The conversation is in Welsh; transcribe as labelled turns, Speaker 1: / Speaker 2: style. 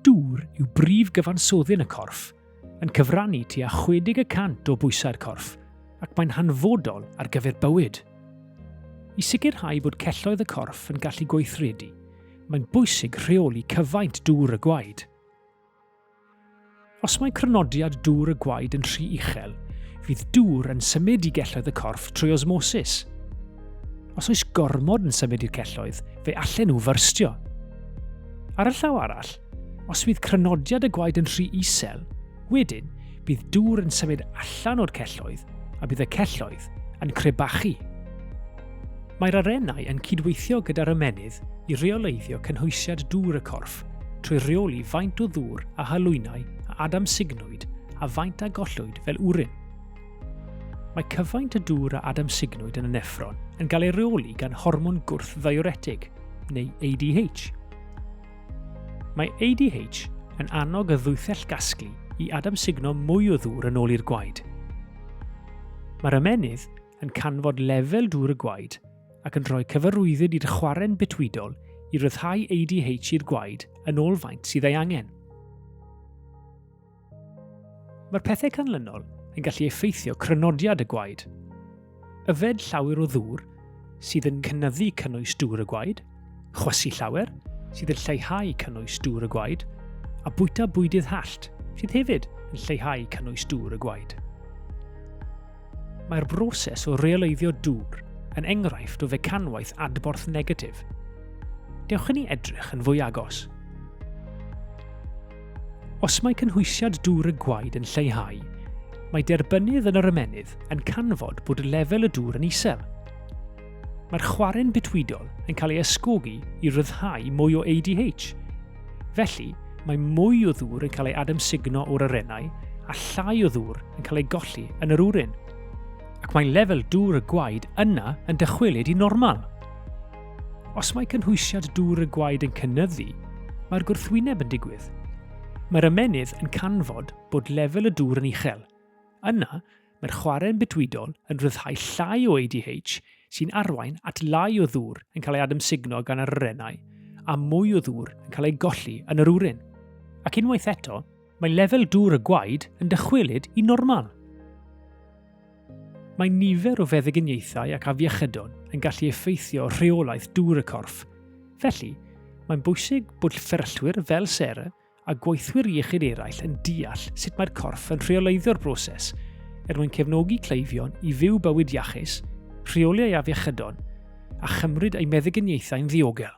Speaker 1: Dŵr yw brif gyfansoddyn y corff, yn cyfrannu tua 60 y cant o bwysau'r corff, ac mae'n hanfodol ar gyfer bywyd. I sicrhau bod celloedd y corff yn gallu gweithredu, mae'n bwysig rheoli cyfaint dŵr y gwaed. Os mae crynodiad dŵr y gwaed yn rhy uchel, fydd dŵr yn symud i gelloedd y corff trwy osmosis. Os oes gormod yn symud i'r celloedd, fe allen nhw fyrstio. Ar y llaw arall, os fydd crynodiad y gwaed yn rhy isel, wedyn bydd dŵr yn symud allan o'r celloedd a bydd y celloedd yn crebachu. Mae'r arennau yn cydweithio gyda'r ymennydd i reoleiddio cynhwysiad dŵr y corff trwy reoli faint o ddŵr a halwynau a adamsignwyd a faint a gollwyd fel wrin. Mae cyfaint y dŵr a adamsignwyd yn y neffron yn cael ei reoli gan hormon gwrth-ddiuretig, neu ADH. Mae ADH yn annog y ddwythell gasglu i adamsugno mwy o ddŵr yn ôl i'r gwaed. Mae'r ymennydd yn canfod lefel dŵr y gwaed ac yn rhoi cyfarwyddyd i'r chwarren bitwydol i ryddhau ADH i'r gwaed yn ôl faint sydd ei angen. Mae'r pethau canlynol yn gallu effeithio crynodiad y gwaed. Yfed llawer o ddŵr sydd yn cynyddu cynnwys dŵr y gwaed – Chwysu llawer, sydd yn lleihau cynnwys dŵr y gwaed, a bwyta bwydydd hallt, sydd hefyd yn lleihau cynnwys dŵr y gwaed. Mae'r broses o reoleiddio dŵr yn enghraifft o fecanwaith adborth negatif. Dewch i ni edrych yn fwy agos. Os mae cynhwysiad dŵr y gwaed yn lleihau, mae derbynnydd yn yr ymennydd yn canfod bod lefel y dŵr yn isel, Mae'r chwarren bitwydol yn cael ei ysgogi i ryddhau mwy o ADH. Felly, mae mwy o ddŵr yn cael ei adamsugno o'r arennau a llai o ddŵr yn cael ei golli yn yr wrin. Ac mae lefel dŵr y gwaed yna yn dychwelyd i normal. Os mae cynhwysiad dŵr y gwaed yn cynnyddu, mae'r gwrthwyneb yn digwydd. Mae'r ymennydd yn canfod bod lefel y dŵr yn uchel. Yna, Mae'r chwarren bydwydol yn rhyddhau llai o ADH sy'n arwain at lai o ddŵr yn cael ei adymsugno gan yr arennau a mwy o ddŵr yn cael ei golli yn yr wrin. Ac unwaith eto, mae lefel dŵr y gwaed yn dychwelyd i normal. Mae nifer o feddyginiaethau ac afiechydon yn gallu effeithio rheolaeth dŵr y corff. Felly, mae'n bwysig bod fferyllwyr fel Sarah a gweithwyr iechyd eraill yn deall sut mae'r corff yn rheoleiddio'r broses er mwyn cefnogi cleifion i fyw bywyd iachus, rheoli ei afiechydon a chymryd ei meddyginiaethau'n ddiogel.